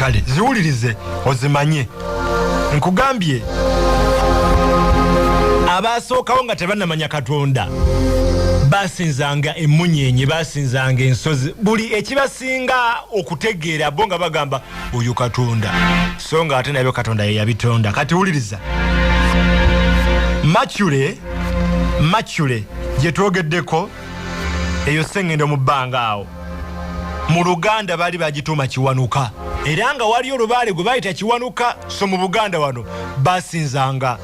kale ziwulirize ozimanye nkugambye abaasookawo nga tebanamanya katonda basinzanga emunyenye basinzanga ensozi buli ekibasinga okutegeera bo nga bagamba oyo katonda so nga ate nabyo katonda yeyabitonda kati wuliriza macule macule gyetwogeddeko eyo sengendo mu bbanga awo mu luganda baali bagituuma kiwanuka era nga waliyo olubaale gwe bayita kiwanuka so mu buganda wano basinzanga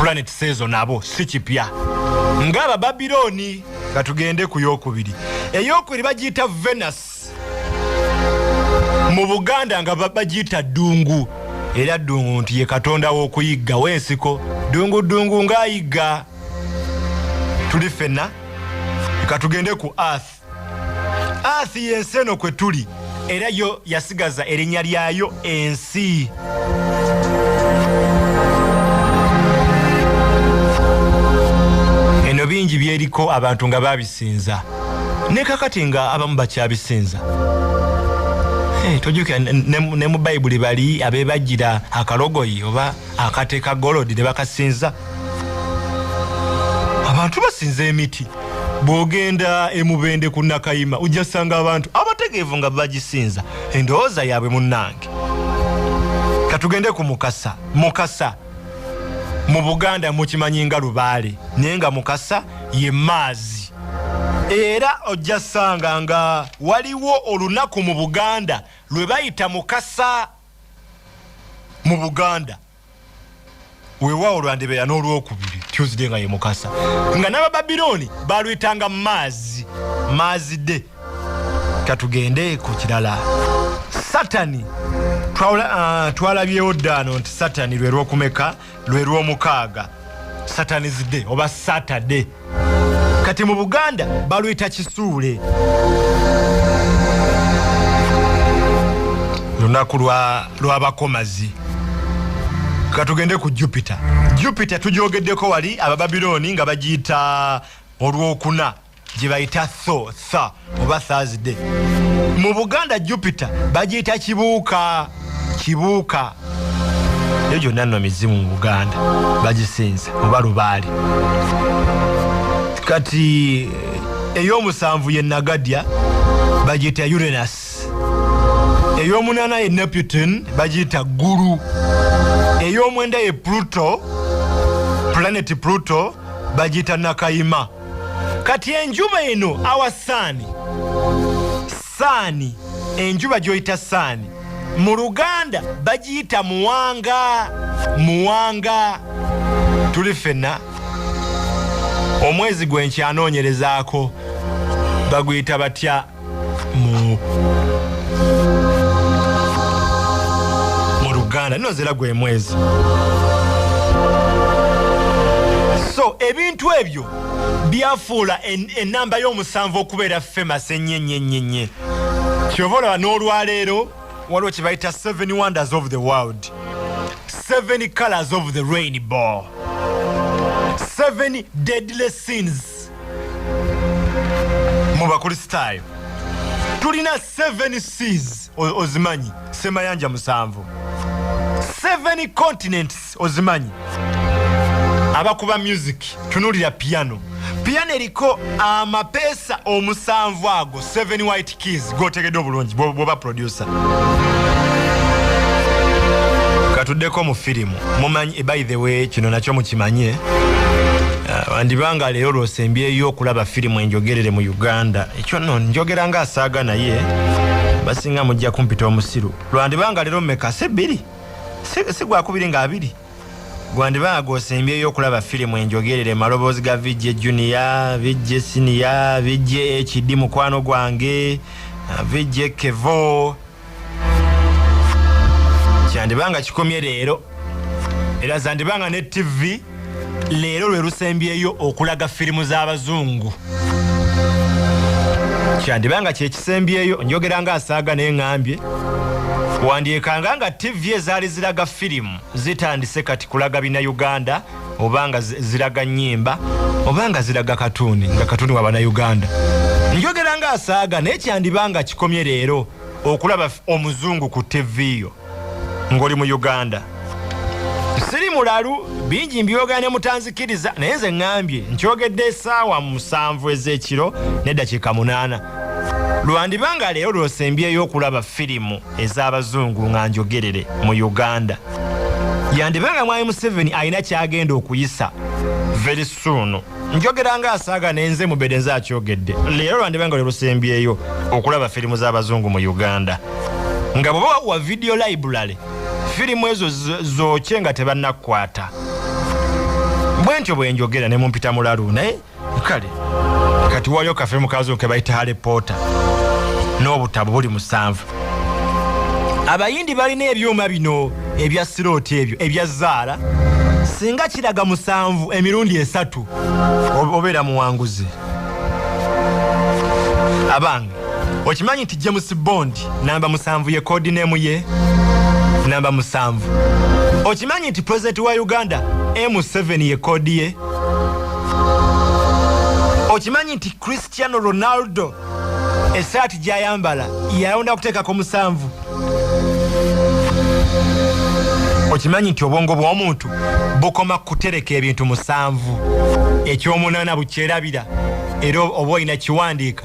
planet sezo nabo si kipya ng'abababirooni nga tugende ku yokubiri eyokubiri bagiyita venus mu buganda nga bagiyita ddungu era ddungu nti ye katonda w'okuyiggawo ensiko ddungu ddungu ng'ayigga tuli ffenna ka tugende ku earth earth y'ensi eno kwe tuli era yo yasigaza erinnya lyayo ensi eno bingi byeriko abantu nga babisinza ne kakati nga abamu bakyabisinza eh, tojukira ne mu bayibuli bali abebajira akalogoyi oba akateka golodi ne bakasinza abantu basinza emiti bwogenda emubende ku nakayima ojja sanga abantu abategeevu nga bagisinza endowooza yaabwe munnange katugende ku mukasa mukasa mu buganda mukimanyi nga lubaale naye nga mukasa ye maazi era ojja sanga nga waliwo olunaku mu buganda lwe bayita mukasa mu buganda weewaawo lwandibeera n'olwokubiri tuesday nga ye mukasa nga n'abababirooni baluyitanga maazi maazi de katugende ku kirala satani ah, twalabyewo ddaano nti satani lwe lwokumeka lwe lwomukaaga satanis day oba saturday kati mu buganda baluyita kisuule lunaku lwabakomazi katugende ku jupiter jupiter tujogeddeko wali abababilooni nga bagiyita olwokuna gye bayita tho tha oba thursday mu buganda jupiter bagiyita kibuuka kibuuka eyo gyonna nno mizimu mu buganda bagisinza oba lubaale kati ey'omusanvu ye nagadya bagiyita urenas ey'omunaana ye neputin bagiyita ggulu ey'omwenda ye pluto planeti pluto bagiyita nakayima kati enjuba eno awa saani saani enjuba gyoyita saani mu luganda bagiyita muwanga muwanga tuli ffenna omwezi gwe nkyanoonyerezaako baguyita batya mu mu luganda nino zera gwe mwezi so ebintu ebyo byafuula enamba y'omusanvu okubeera femas enyenyenyenye kyova olaba n'olwaleero waliwo kyebayita seven wonders of the world seven colors of the rainbow seven deadly sins mu bakristaayo tulina 7 seas ozimanyi semayanja musanvu 7 continents ozimanyi abakuba music tunulira piano piano eriko amapeesa omusanvu ago 7 keys gwotegedde obulungi bwoba producer katuddeko mu firimu mumanyi eh, by the way kino nakyo mukimanye ah, andibanga leero lwosembyeyo okulaba firimu enjogerere mu uganda ekyo no njogera nga asaaga naye basinga mujja kumpita omusiru lwandibanga leero meka si bbiri sigwakubiri nga abiri gwandiba nga gwosembyeyo okulaba firimu enjogerere maloboozi ga vijje junior vijje siniya vijje ekidi mukwano gwange vijje kevo kyandiba nga kikomye leero era zandiba nga ne ttivi leero lwe lusembyeyo okulaga firimu z'abazungu kyandiba nga kyekisembyeyo njogera nga asaaga neŋambye wandyekanga nga ttivi ezaali ziraga firimu zitandise kati kulaga bina uganda obanga ziraga nyimba obanga ziraga katuni nga katuni wabana uganda njogera nga asaaga naye kyandibanga kikomye leero okulaba omuzungu ku tv yo ngoli mu uganda siri mulalu bingi mbyogera ne mutanzikiriza naye nze ŋambye nkyogedde esaawa musanvu ezekiro nedakiika munaana lwandibanga leero lwosembyeyo okulaba firimu ez'abazungu nga njogerere mu uganda yandiba nga mwami museveni alina kyagenda okuyisa very soon njogera nga asaaga nenze mubede nze akyogedde leero lwandiba nga lwelusembyeyo okulaba firimu z'abazungu mu uganda nga bweba wakuwa video library firimu ezo zokye nga tebannakukwata bwentyo bwenjogera ne mumpita mulalu naye kale kati wayo kafe mukazi ke bayita hale pota n'obutabo buli musanvu abayindi balina ebyuma bino ebya sirooti ebyo ebya zaala singa kiraga musanvu emirundi esatu obeera muwanguzi abange okimanyi nti james bond namba musanvu ye kodinemu ye namba musanvu okimanyi nti pulezidenti wa uganda m7 ye kodi ye okimanyi nti cristiano ronaldo esaati gyayambala yalonda kuteekako musanvu okimanyi nti obwongo bw'omuntu bukoma kutereka ebintu musanvu ekyomunaana bukyerabira era oba olina kiwandiika